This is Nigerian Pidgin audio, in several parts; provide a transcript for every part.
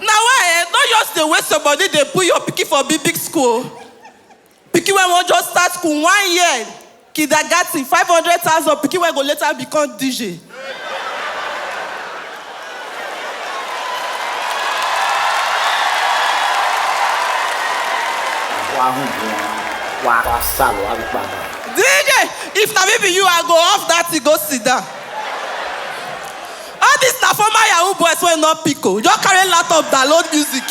na why eh no just dey waste your body dey put your pikin for big big school pikin wey wan just start school one year kindergarten five hundred thousand pikin wey go later become dj. wahun wọn wá wá sálọ wá wípé àgbà. dj if na me be you i go off that thing go sit down. All this na former yahoo boys wey no pick o, just carry laptop download music.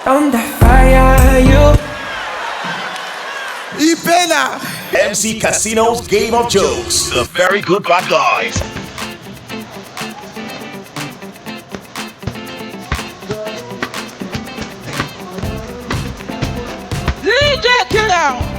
Thunder fire you. E pain am. MC Casino's Game of Jokes. The very good bad guys. DJ Killer.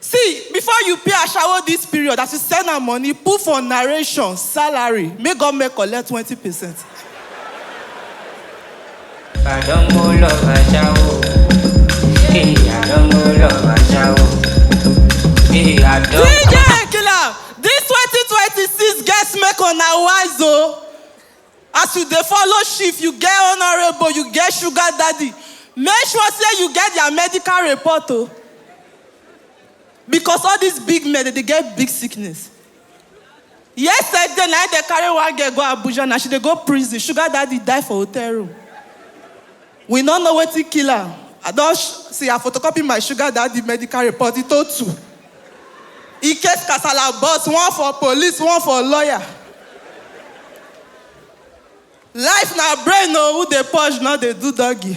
see before you pay ashawo this period as you send am money put for narration salary make government collect twenty percent. I don't go love a shower. Hey, I don't go love a shower. Hey, I don't. dj killer this twenty twenty six get make una wise o. Oh. As you dey follow chief, you get honourable, you get sugar daddy, make sure say you get their medical report o. Because all these big men dem dey get big sickness. Yesterday na im dem carry one girl go Abuja na, she dey go prison, sugar daddy die for hotel room. We no know wetin kill am. I don see I photocopy my sugar daddy medical report e to two. In case kasala burst, one for police, one for lawyer. Life na brain o, who dey purge no dey do doggy.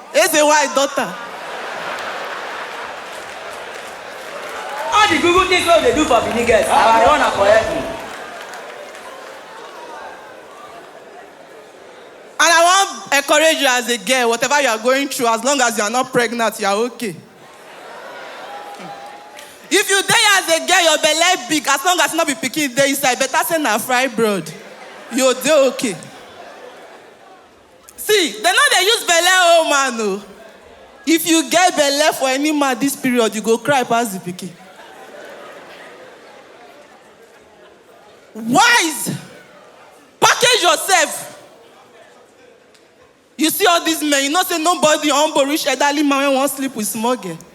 Eze why daughter? All the good good things wey we dey do for Benin girls, na our own na for heaven. And I wan encourage you as a girl, whatever you are going through, as long as you are not pregnant, you are okay. If you dey as a girl, your belle big, as long as no be pikin dey inside, better say na fibroid, you dey okay. See, they no dey use belle oh man oh. If you get belle for any man this period, you go cry pass the pikin. Wise, package yourself. You see all these men, you know say nobody humble reach elderly man wey wan sleep with small girl.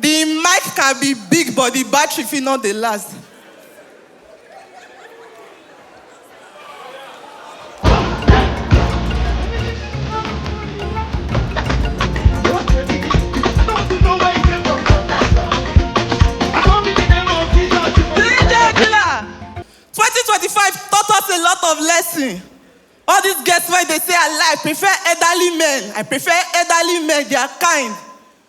The mic can be big but the battery fit not dey last. Twenty twenty five taught us a lot of lesson. All these girls wey dey say I like prefer elderly men, I prefer elderly men, they are kind.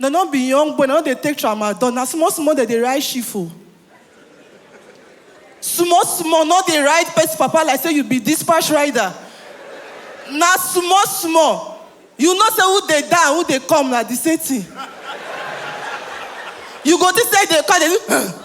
Dem no be young boy, dem no dey take tramadol, na small small dem dey ride shift o. Small small, no dey ride person papa like say you be dispatch rider. Na small small. You know say who dey die and who dey come na the same thing. You go think say dem dey come, dem dey do um.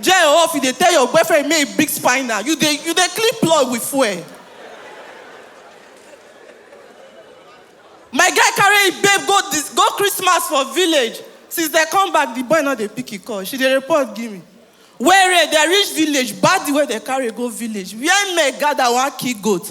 Jay or off, you dey tell your boyfriend make he bring spinal. You dey you dey clean plug with fuel. My guy carry him babe go dis go Christmas for village. Since they come back, the boy no dey pick him call. She dey report give me. Where they reach village, bad the way they carry go village. Where men gather wan kill goat.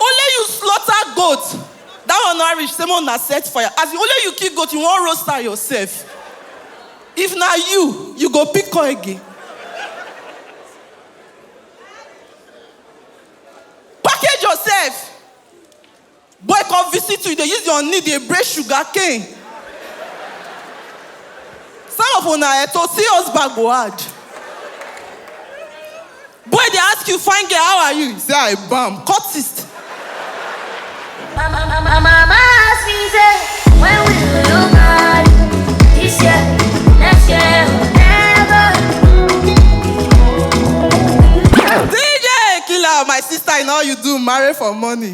only you slaughter goat that one no reach say make una set fire as only you kill goat you wan roast am yourself if na you you go pick am again package yourself Boy come visit you, you dey use your knee dey break sugar cane. Some of una eh, to see us back go hard. Boy dey ask you, fine girl, how are you? Say I bam, cultist. My, my, my, my mama asked me, say, when will you look at This year, next year, never. DJ Killer, my sister, in all you do, marry for money.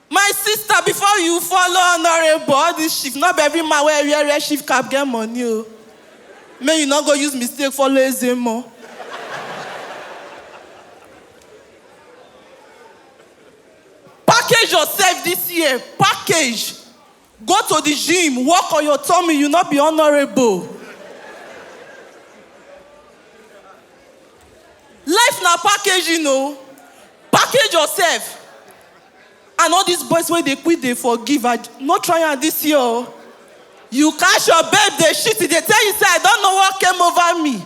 My sister before you follow honorable all this chief no be every man wey wear wear chief cap get money o. Make you no go use mistake follow Ezemo. Package yourself this year, package. Go to the gym, work on your tummy, you not be honorable. Life na package, you know. Package yourself. And all these boys wey dey quit dey forgive, I no try am this year o. You catch your babe dey shit, e dey tell you say I don know what came over me.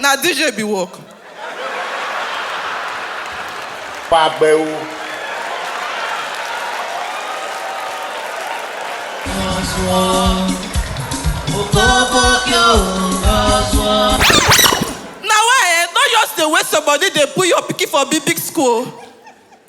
na dj be work pàgbẹ́ o. na why eh no just dey waste your body dey put your pikin for big big school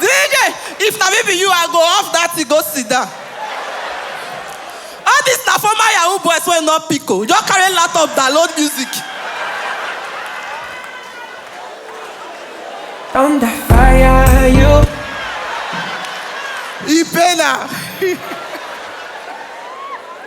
DJ, if na me be you, I go off that thing, go sit down. All this na former Yahoo boys wey no pick o. Just carry laptop download music. Thunder fire you. Ipena.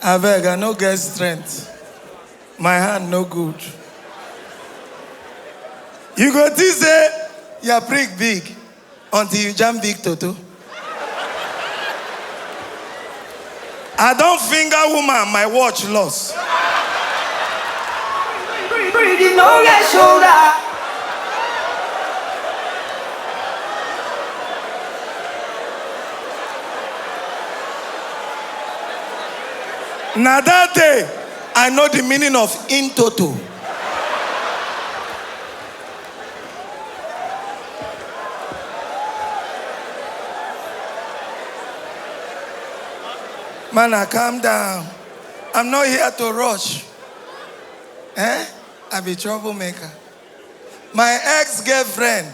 Abeg, I no get strength. My hand no good. You go think say your prick big until you jam big toto. I don finger woman, my watch loss. Pretty no get shoulder. na that day i know the meaning of in toto mana calm down i'm not here to rush eh i be troublemaker my ex-girlfriend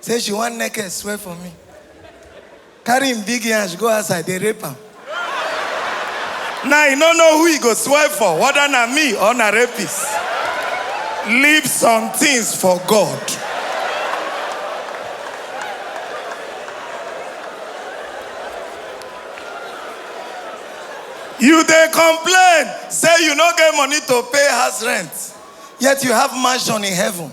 say she wan naked swear for me carry him big yansh go outside dey rape am now you no know who you go swipe for whether na me or na rapist leave some things for god you dey complain say you no get money to pay house rent yet you have mansion in heaven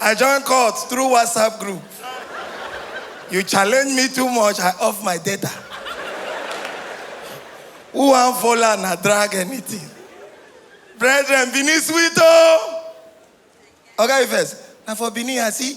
I join court through WhatsApp group. You challenge me too much, I off my data. Who am follow na drag anything? Brethren, Benin sweet oh! Okay, first. Now for Benin, I see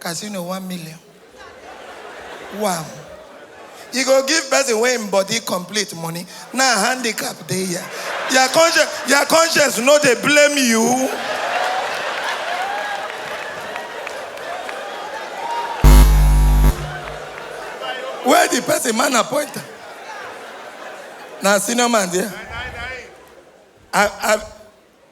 Casino one million. Wow. You go give person wey im body complete money. Na handicap dey here. Your conscience, your conscience no dey blame you. Where the person man appoint am? Na senior man there. I, I,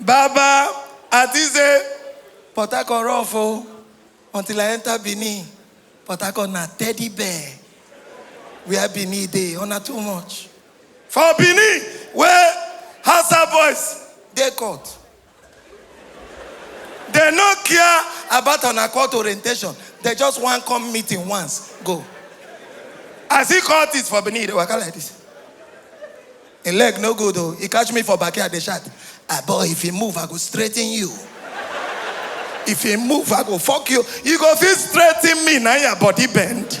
Baba, I think say Port Harcourt rough o until I enter Benin. Port Harcourt na teddy bear. Where Benin dey, una too much. For Benin, where Hausa boys dey court, They no care about an court orientation. They just want come meeting once, go. I see court is for Benin, they waka like this. A leg no good though. He catch me for backyard, they shot. Ah boy, if he move, I go straighten you. If he move, I go fuck you. You go feel straighten me, now your body bend.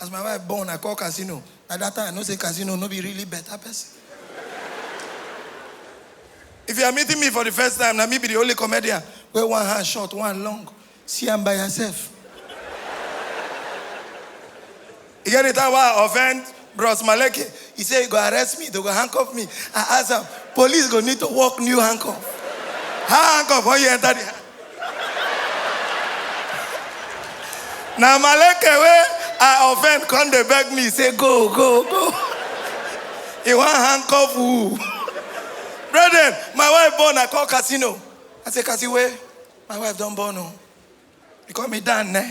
As my wife born, I call casino. At that time, I know say casino no be really better person. If you are meeting me for the first time, na me be the only comedian where one hand short, one long. See am by yourself. You get the time why I offend Bros Maleke, he say he go arrest me, they go handcuff me. I ask am, police go need to work new handcuff. How handcuff when you enter the hand? Na Maleke wey I offend come dey beg me say go go go. He wan handcuff who? Brethren, my wife born, I call casino. I say, Cassie, where? My wife don born o. He call me Dan, ne?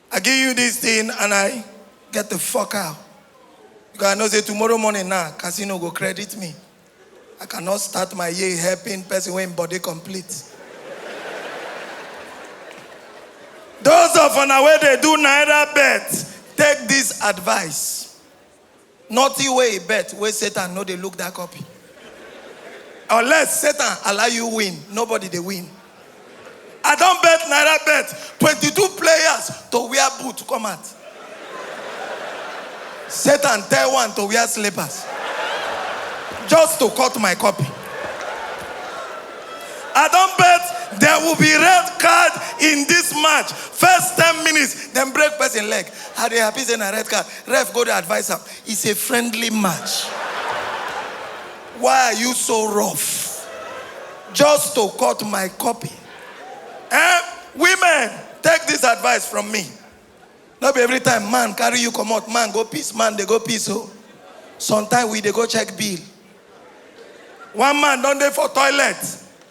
I give you this thing and I get the fuck out. Because I know say tomorrow morning now, nah, casino go credit me. I cannot start my year helping person when body complete. Those of on way they do neither bet, take this advice. Nothing wey e bet wey Satan no dey look that copy. Unless Satan allow you win, nobody dey win. I don bet Naira bet 22 players to wear boot come out. Satan tell one to wear slippers just to cut my copy. I don bet there will be red card in this match. First 10 minutes, dem break person leg. I dey happy say na red card. Ref go dey advise am. It's a friendly match. Why are you so rough? Just to cut my copy. Eh? Women, take this advice from me. No be every time man carry you come out, man go peace, man they go peace. Oh. Sometimes we they go check bill. One man don't dey for toilet.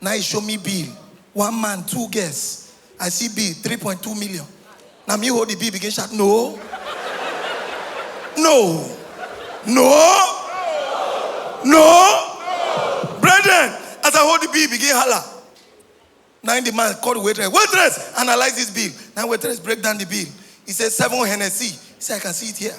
Na e show me bill, one man, two girls. I see bill, three point two million. Na me hold the bill begin shout, no! No! No! No! Brethren, as I hold the bill begin holla. Na im the man call the waitress, waitress, analyse this bill. Na im waitress break down the bill. He say seven Hennessy. He say I can see it here.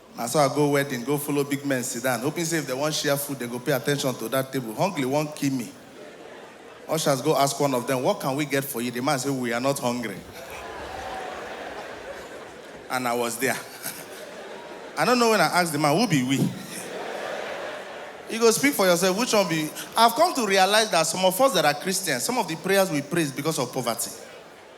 Na so I go wedding go follow big men sidan hoping say if dem wan share food dem go pay attention to dat table, hungry wan kill me. Ushers go ask one of dem what can we get for you, di man say we are not hungry and I was dia. I no know wen I ask di man who be we? You go speak for yourself which one be I have come to realize dat some of us dat are Christians some of di prayers we pray is because of poverty.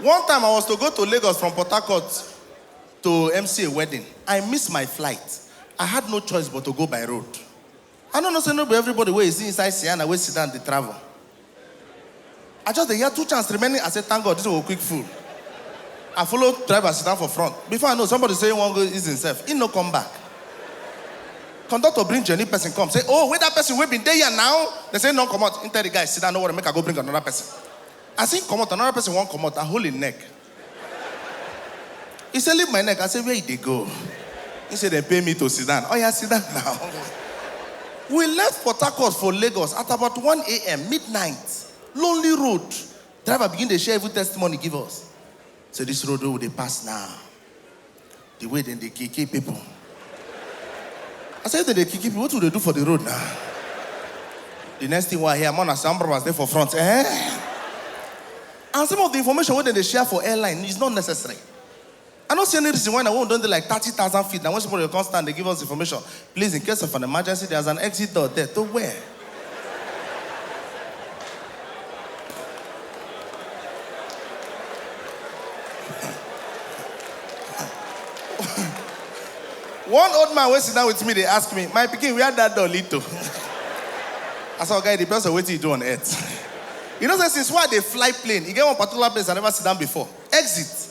One time I was to go to Lagos from Port Harcourt to MC a wedding. I miss my flight. I had no choice but to go by road. I no know say no be everybody wey you see inside Sienna wey sit down dey travel. I just dey hear two chance remaining. I say thank God this one go quick full. I follow driver sit down for front. Before I know somebody say he wan go ease himself. He no come back. Conductor bring journey person come say oh where that person wey been dey here now? They say no comot. He tell the guy sit down no worry make I go bring another person. As he comot, another person wan comot, I hold him neck. He say, leave my neck. I say, where you dey go? He say, they pay me to sit down. Oh yeah, sit down now. we left Port Harcourt for Lagos at about 1 a.m. midnight. Lonely road. Driver begin dey share evil testimony give us. Say this road wey we dey pass now. The way dem dey kiki people. I say if dem dey kiki people, wetin we dey do for the road na? The next thing wey I hear, more na some brothers dey for front. Eh? And some of the information wey dem dey share for airline is not necessary. I no see any reason why na when we don dey like thirty thousand feet na when somebody go come stand dey give us information. Please in case of an emergency, there's an exit door there to where? one old man wey sit down with me dey ask me my pikin where dat door lead to i say oga e depends on wetin you do on earth you know say since wey i dey fly plane e get one particular place i never sit down before exit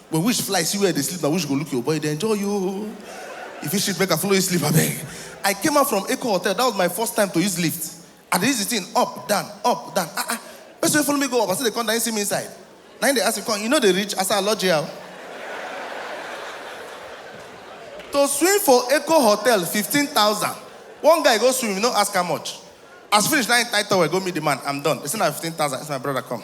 When wish fly see where I dey sleep na wish go look your boy dey enjoy you. If you shit make I follow you sleep abeg. I came out from Eko hotel that was my first time to use lift. I dey use the thing up down up down ah ah person wey follow me go up as I dey come down he see me inside na him dey ask me come you no dey reach I say I lodge here o. To swim for Eko hotel fifteen thousand one guy go swim he no ask how much as finish na him tie towel go meet the man I'm done they say na fifteen thousand I say my brother come.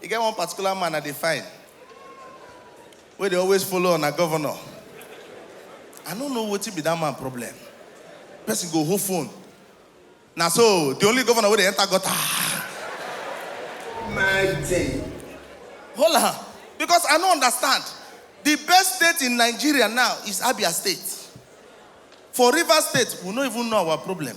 E get one particular man I dey find wey dey always follow una governor. I no know wetin be that man problem. Person go hold phone. Na so the only governor wey dey enter gutter. My thing. Hold on, because I no understand. The best state in Nigeria now is Abia State. For Rivers State, we no even know our problem.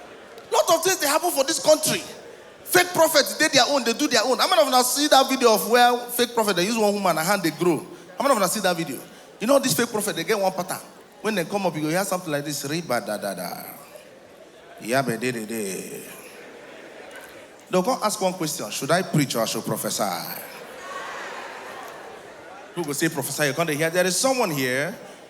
lot of things dey happen for this country fake prophets dey their own dey do their own how many of una see that video of where fake prophet dey use one woman her hand dey grow how many of una see that video you know this fake prophet dey get one pattern when dem come up you go hear something like this riba da da da yabe de de de dem come ask one question should i preach or i should prophesy people go say prophesy you come dey hear there is someone here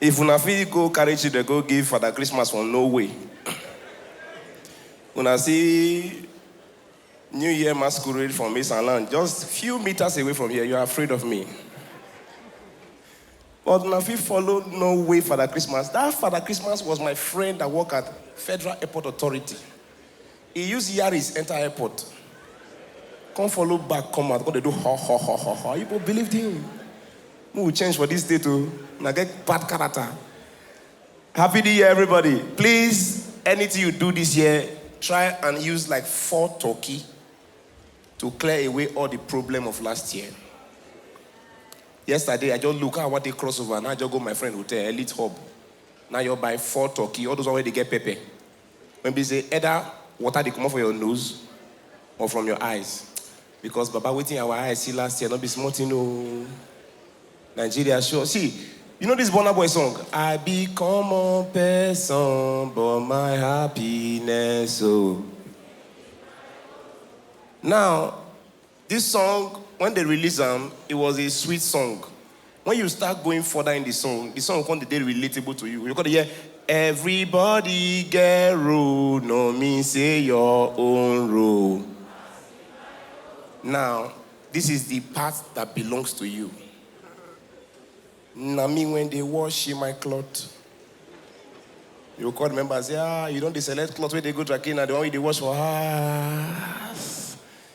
If una fit go carry children go give Father Christmas for no way. Una see New Year masquerade from East and Land, just few meters away from here, you are afraid of me. But una fit follow no way Father Christmas. That Father Christmas was my friend that work at Federal Airport Authority. E use yaris enter airport come follow back come out come dey do ho ho ho ho ho. You go believed him. Make we change for this state o. Una get bad character. Happy New Year everybody. Please anything you do this year try and use like four turkey to clear away all the problem of last year. Yesterday I just look how I wan take cross over na I just go my friend hotel Elite Hub na I just buy four turkey all those one wey dey get pepper. when be say either water dey comot for your nose or from your eyes because baba wetin our eyes see last year no be small thing o nigeria sure see you know this burna boy song i be common person but my happiness o now This song when they release am it was a sweet song when you start going further in the song the song come dey dey relatable to you you come dey hear everybody get role no mean say your own role now this is the part that belongs to you na me when dey wash my cloth you go come remember say ah you don dey select cloth wey dey go dry cleaner the one wey you dey wash for house.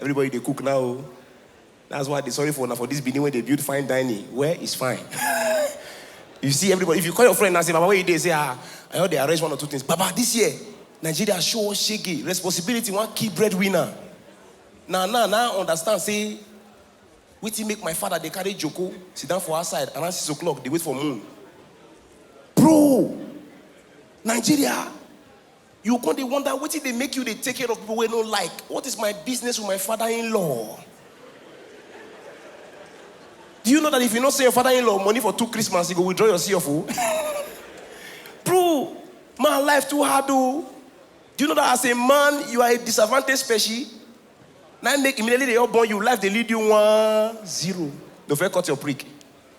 Everybody dey cook now o. That's why I dey sorry for una for this Benin wey dey build fine dining where is fine. you see everybody, if you call your friend now say baba where you dey say ah I just dey arrange one or two things. Baba this year Nigeria show us shege, responsibility wan kill breadwinner. Na now na I understand say wetin make my father dey carry joko sit down for outside around six o'clock dey wait for moon. Bro! Nigeria! You come dey wonder wetin dey make you dey take care of people wey no like. What is my business with my father-in-law? Do you know that if you no send your father-in-law money for two Christmas, you go withdraw your CF? Oh? Bro, my life too hard oh. Do you know that as a man, you are a disadvantaged species? Now make immediately they all born you, life they lead you one zero. Don't cut your prick.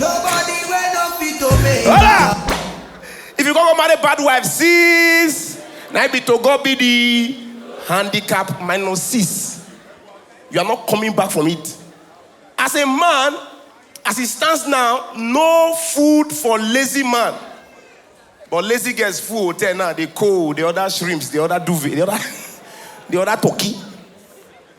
Nobody wey no fit to make Hola! If you go go marry bad wife, sis, na it be to God be the handicap minus six. You are not coming back from it. As a man, as it stands now, no food for lazy man. But lazy girls full hotel now, they cold, the other shrimps, the other duvet, the other, the other turkey.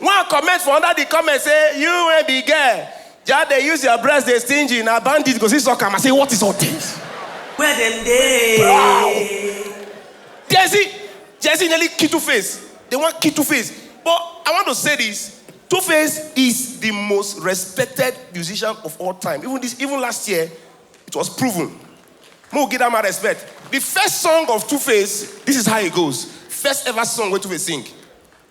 One comment for under the comment say, you wey be girl, just dey use your breast dey stingy, na bandit go see suck am. I say, what is all this? Where them day? Gen Z, Gen Z nearly kill Two Face. They want kill Two Face. But I want to say this: Two Face is the most respected musician of all time. Even this, even last year, it was proven. Mo give that man respect. The first song of Two Face, this is how it goes. First ever song where Two Face sing.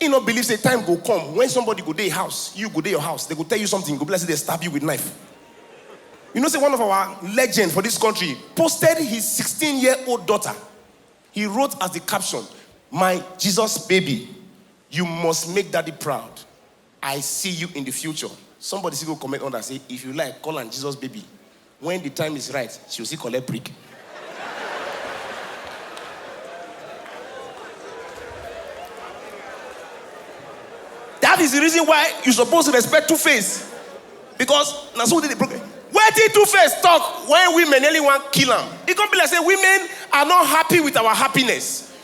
He no believe say time go come when somebody go dey house, you go dey your house, they go tell you something, go be like say they stab you with knife. You know say one of our legend for this country posted his 16 year old daughter. He wrote as the caption, my Jesus baby, you must make daddy proud. I see you in the future somebody still go comment under say if you like call am Jesus baby when the time is right she go still collect brick. that is the reason why you suppose respect two face because na so we dey dey broken wetin two face talk when women nearly wan kill am e come be like say women are not happy with our happiness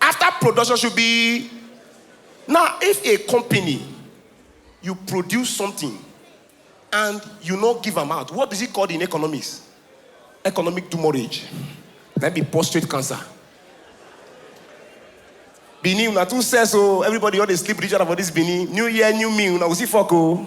After production should be now if a company you produce something and you no give am out what is it called in economics economic demurrage na be prostate cancer benin una too sell so everybody all dey sleep with each other for this benin new year new me una go see fok o.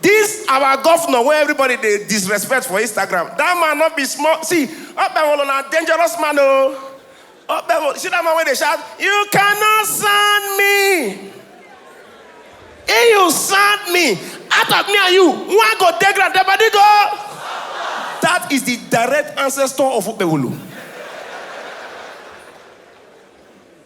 This our governor wey everybody dey disrespect for Instagram, that man no be small, see Okpebholo na dangerous man o, Okpebholo, see that man wey dey shout you cannot sand me, if you sand me, out of me and you, one go dey ground, the body go That is the direct ancestor of Okpebholo.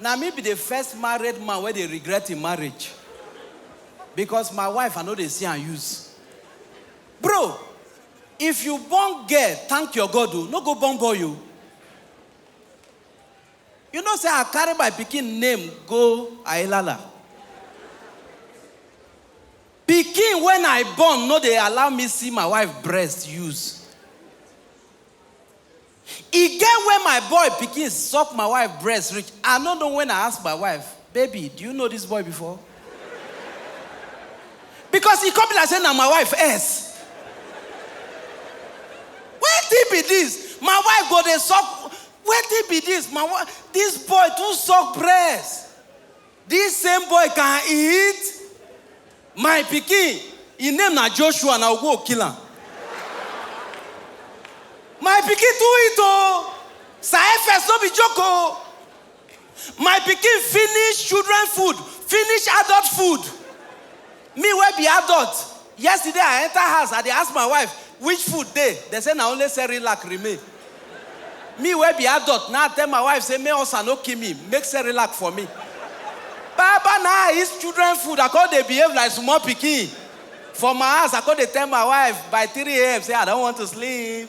Na me be the first married man wey dey regret im marriage because my wife I no dey see am use. Bro, if you born girl thank your God o, no go born boy o. You know say I carry my pikin name go Ailala. Pikin wey I born no dey allow me see my wife breast use. E get when my boy pikin suck my wife breast reach, I no know when I ask my wife, baby do you know this boy before? Because e come be like say na my wife ex. Wetin be this? My wife go dey suck, wetin be this? My wife, this boy too suck breast. This same boy can eat my pikin him name na Joshua na ogwo kill am my pikin too eat o sir efes no be joke o my pikin finish children food finish adult food Me wey be adult, yesterday I enter house I dey ask my wife which food dey, dem say na only cerelac remain. Me wey be adult na I tell my wife say make ulcer no kill me, make cerelac for me. Baba na I eat children food, I come dey behave like small pikin for my house, I come dey tell my wife by three AM say I don want to sleep.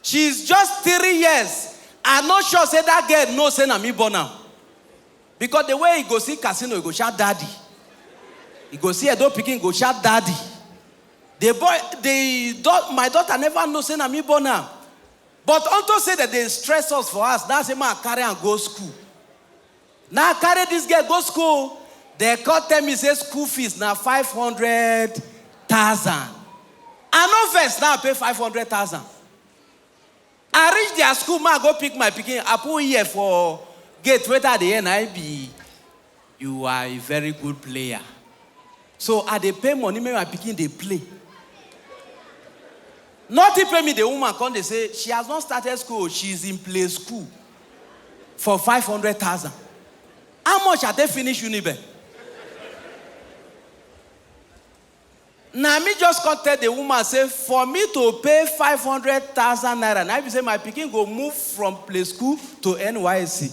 She is just three years, I no sure say that girl know say na me born am because the way e go see Casino, e go shout daddy. E go see Edo pikin, e go shout daddy. The boy, the dau- my daughter never know say na me born am. But unto say that they stress us for us, that's why I carry am go school. Na I carry this girl go school o, dem come tell me say school fees na five hundred thousand. I no vex na I pay five hundred thousand. I reach their school ma go pick my pikin, I put ear for gate wetin I dey hear na im be you are a very good player. So I dey pay money make my pikin dey play. Nothing pain me the woman come dey say she has not started school o, she is in play school. for five hundred thousand how much i take finish unibe na me just come tell the woman say for me to pay five hundred thousand naira na be say my pikin go move from play school to nysc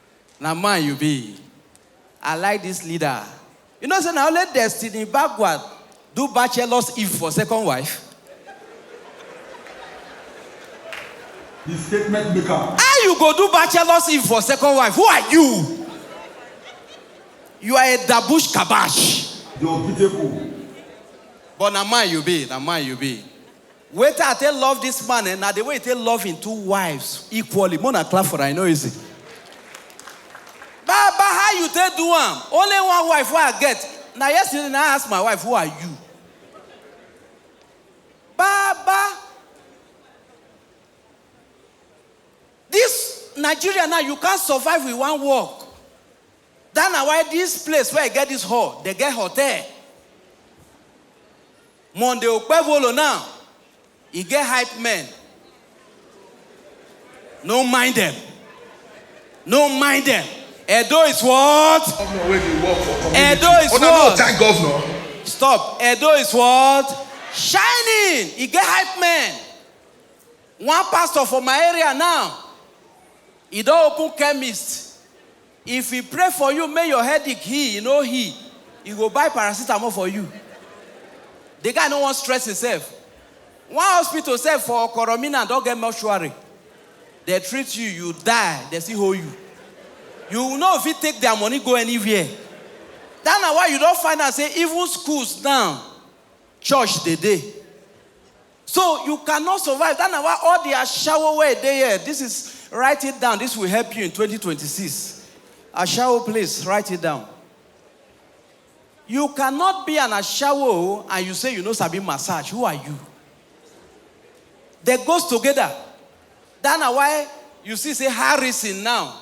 Na man you be. I like this leader. You know say na only Destiny Bagua do bachelor's eve for second wife? Di statement make am. How you go do bachelor's eve for second wife? Who are you? You are a dabush kabash. Di unbeatable. But na man you be, na man you be. Wetin I take love this man eh, na the way he take love him two wives equally. Mo na clap for am, e no easy. Baba, how you take do am? Only one wife wey I get. Na yesterday na I ask my wife, who are you? Baba, this Nigeria now you can't survive with one work. That na why this place where I get this hall, they get hotel. Monday Okpebholo now e get hype men no mind dem no mind dem Edo is what? Governor wey dey work for community. Edo is Una no what? thank governor. Stop Edo is what? Shining e get hype men one pastor for my area now e don open chemist If he pray for you make your headache heal, e no heal, he go buy paracetamol for you. The guy no wan stress himself. One hospital sef for Okoro Minan don get mortuary. Dem treat you, you die, dem still hold you. You no fit take their money go anywhere. That na why you don find out say even schools now, church dey dey. So you cannot survive. That na why all the ashawo wey dey here, this is write it down. This will help you in 2026. Ashawo, please write it down. You cannot be an ashawo and you say you no sabi massage. Who are you? They goes together. That na why you see say Harrison now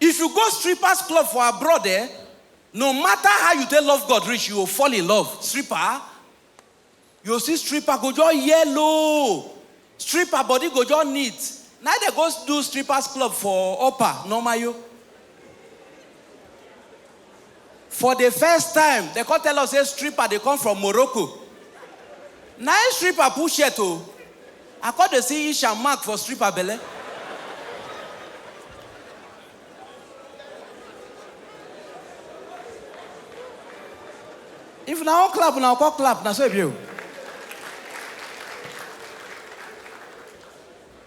If you go strippers club for abroad eh, no matter how you take love God reach, you go fall in love. Stripper, you go see stripper go just yellow, stripper body go just neat. Na im dey go do strippers club for upper, normal yo. For the first time, they come tell us say stripper dey come from Morocco. Na him stripper pull shirt o. I come dey see inch and mark for stripper belle. If una wan clap, una go come clap, na so e be o.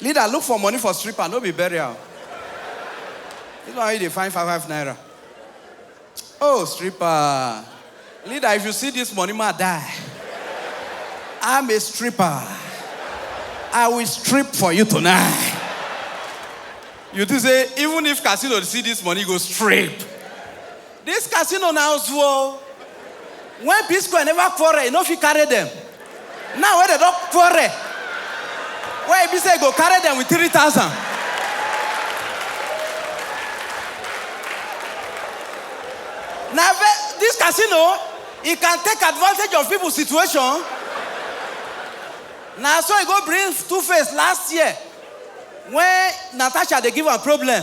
Leader look for money for stripper no be burial. This one you dey find five five naira. Oh stripper. Leader if you see this money ma die. I'm a stripper. I will strip for you tonight. You think say even if casino dey see this money e go strip. This casino na ozu o. When P-square never quarrel, he no fit carry them. Now wey dem don quarrel, wey e be say he go carry them with three thousand. Na this casino, he can take advantage of people situation. Na so he go bring two face last year when Natasha dey give am problem.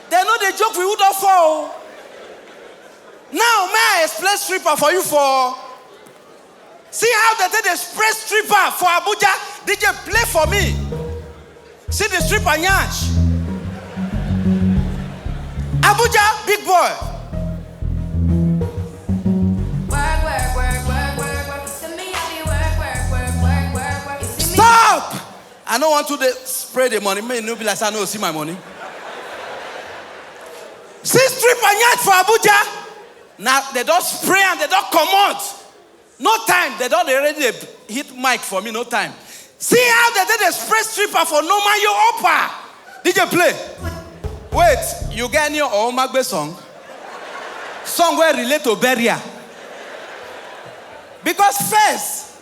Dem no dey joke with who don fall o. Now may I explain stripper for you for See how dem take dey spray stripper for Abuja DJ play for me See the stripper yansh Abuja big boy Work, work, work, work, work, work. To me, I be work, work, work, work, work, work. You see me? Stop! I no wan too dey spray the money make e no be like say I no see my money. See strip and yansh for Abuja. Na they don spray am, they don comot. No time, they don dey already dey hit mic for me, no time. See how they take dey spray stripper for no man you upper. DJ play. Wait, you get any Omagbe song? Song wey relate to burial? Because first,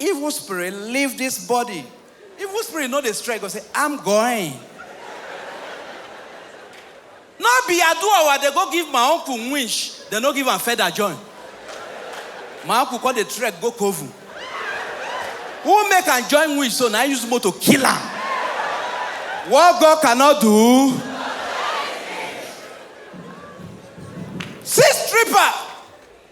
Evil spirit, leave this body. Evil spirit no dey strike go say, I'm going. no be aduawa dey go give my uncle wish, dem no give am feather join. My uncle come dey trek go Kovu. Who make am join wish so na use motor kill am. What God cannot do. See stripper.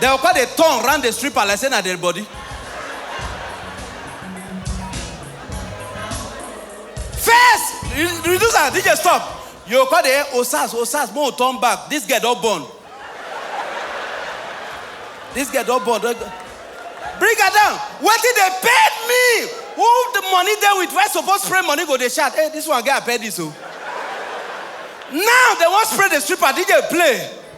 Dem go come dey turn round the stripper like say na dead body. First, re- reduce am, DJ stop. You go come dey osas osas make we turn back. This girl don born. This girl don born. Don... Bring her down. Wetin dey paid me? Who the money dey with? Why suppose spray money go dey shout? Hey, this one get appendix o. Now they wan spray the stripper. DJ play.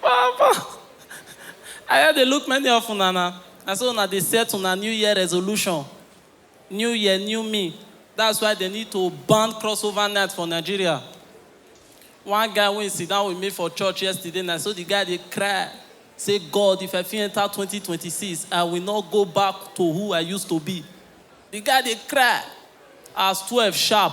Papa! I hear dey look many of una na. Na so una dey set una new year resolution. New year, new me. That's why they need to ban crossover night for Nigeria. One guy wey sit down with me for church yesterday na so the guy dey cry say God if I fit enter 2026 I will not go back to who I used to be. The guy dey cry as 12 sharp.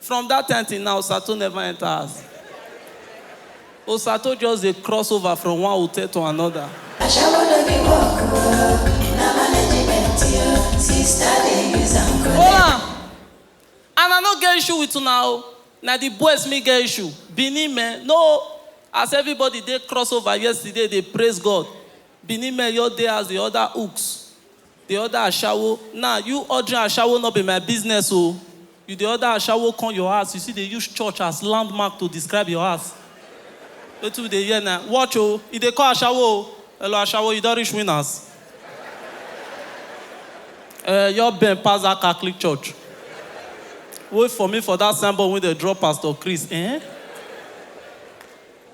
From that time till now, Osato never enter house. Osato just dey cross over from one hotel to another. Ashawo no be work o, na management yo. Sister dey use am collect. Hola! And I no get issue with una o. Na the boys me get issue. Benin men, no! As everybody dey cross over yesterday dey praise God, Benin men just dey house dey order hooks. Dey order ashawo nah you ordering ashawo no be my business o you dey order ashawo come your house you still dey use church as landmark to describe your house wetin we dey hear na watch o e dey call ashawo o hello ashawo you don reach winners eh your bend pass that catholic church wait for me for that sign board wey dem draw pastor chris eh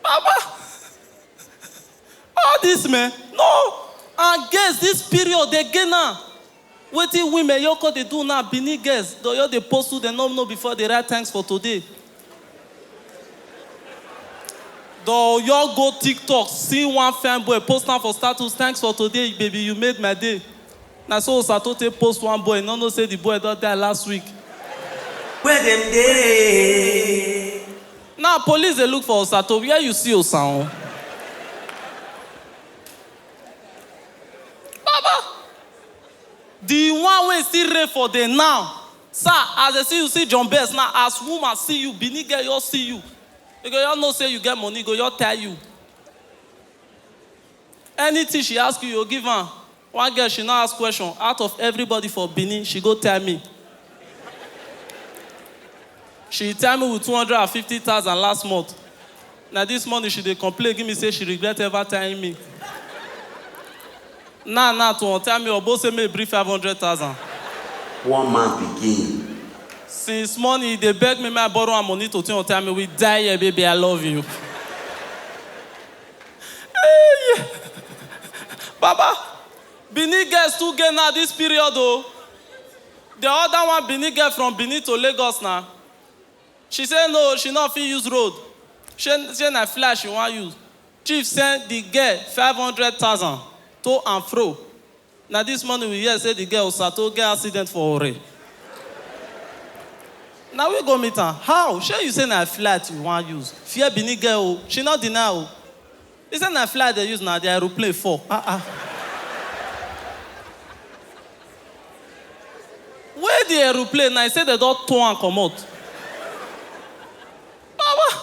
baba All this men, no and girls this period dey gain am. Wetin we men yoko dey do now, Benin girls dey just dey post who dem no know before dey write thanks for today. Dey just go tiktok see one fine boy post am for status thanks for today baby you made my day. Na so Osato take post one boy, e no know say the boy don die last week. Where dem dey? Now police dey look for Osato where you see Osaun? Baba! The one wey still reign for the now Sir as dey see you see John Best now as woman see you Benin girl just see you e go just know say you get money e go just tire you Anything she ask you you go give am One girl she no ask question out of everybody for Benin she go tell me she tell me with two hundred and fifty thousand last month na this morning she dey complain give me say she regret ever telling me now now to untell me obo say make e bring five hundred thousand. One man pikin. Since morning he dey beg me make I borrow am money to take untell me with die here baby I love you. Hey! Baba, Benin girls too gay now this period oh. The other one Benin girl from Benin to Lagos na. She say no, she no fit use road. She say na fly she wan use. Chief send the girl 500,000 to and fro. Na this morning we hear say the girl Osato get accident for Ore. Na we go meet am. How? Shey you say na flight you wan use? Fear Benin girl o, she no deny o. He say na flight dey use na, the aeroplane fall. Ah ah. Wey the aeroplane na, he say dem don tow am comot. Baba,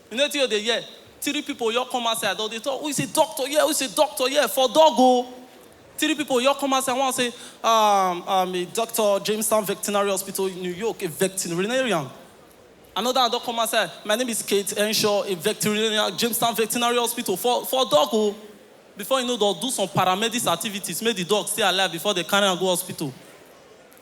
You know wetin u dey hear? Three people just come outside dem dey talk who is a doctor here? Who is a doctor here? For dog o! Three people just come outside one say um um a doctor Jamestown Vectinary Hospital New York a vectinarian another one don come outside my name is Kate Henshaw a vectinarian Jamestown Vectinary Hospital for for dog o! Before you know dem do some paramedics activities make the dog stay alive before dem carry am go hospital.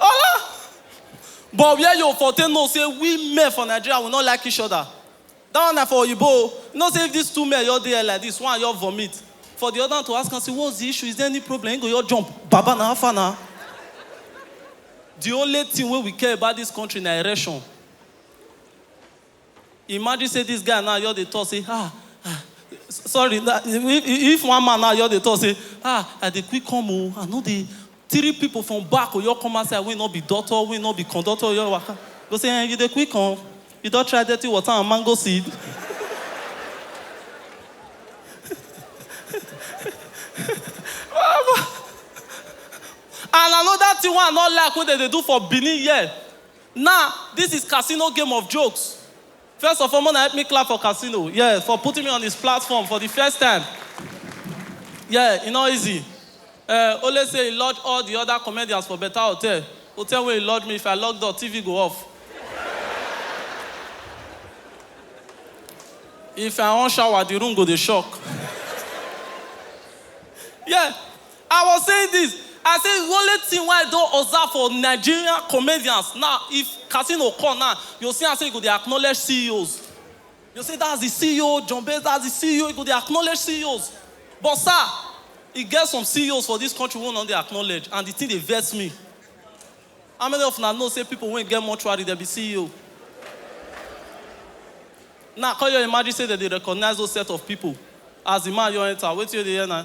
Ah! But where you for take know say we men for Nigeria we no like each other? That one na for oyibo o. You know say if this two men just dey here like this, one just vomit, for the other one to ask am say what's the issue? Is there any problem? He go just jump, baba na how far na? The only thing wey we care about this country na erection. Imagine say this guy now just dey talk say ah ah sorry na if one man now just dey talk say ah I dey quick come o I no dey three people from back go just come outside wey no be doctor wey no be conductor wey just waka go say eh you dey quick come you don try dirty water and mango seed and another thing wey I no like wey dem dey do for Benin here Nah this is casino game of jokes first of all mona help me clap for casino yeah for putting me on his platform for the first time yeah e no easy eh only say he lodge all the other comedians for better hotel hotel wey he lodge me if I lock door TV go off if I on shower the room go dey shock yeah I was saying this, I say the only thing wey I don observe for Nigerian comedians na if casino come na you go see am say e go dey acknowledge CEOs you go say that's the CEO John Base that's the CEO e go dey acknowledge CEOs but sir e get some CEOs for this country wey no dey acknowledge and the thing dey vex me how many of una know say people wey get mortuary dem be CEO now come your imagine say dem dey recognize those set of people as the man just enter wetin you dey hear na.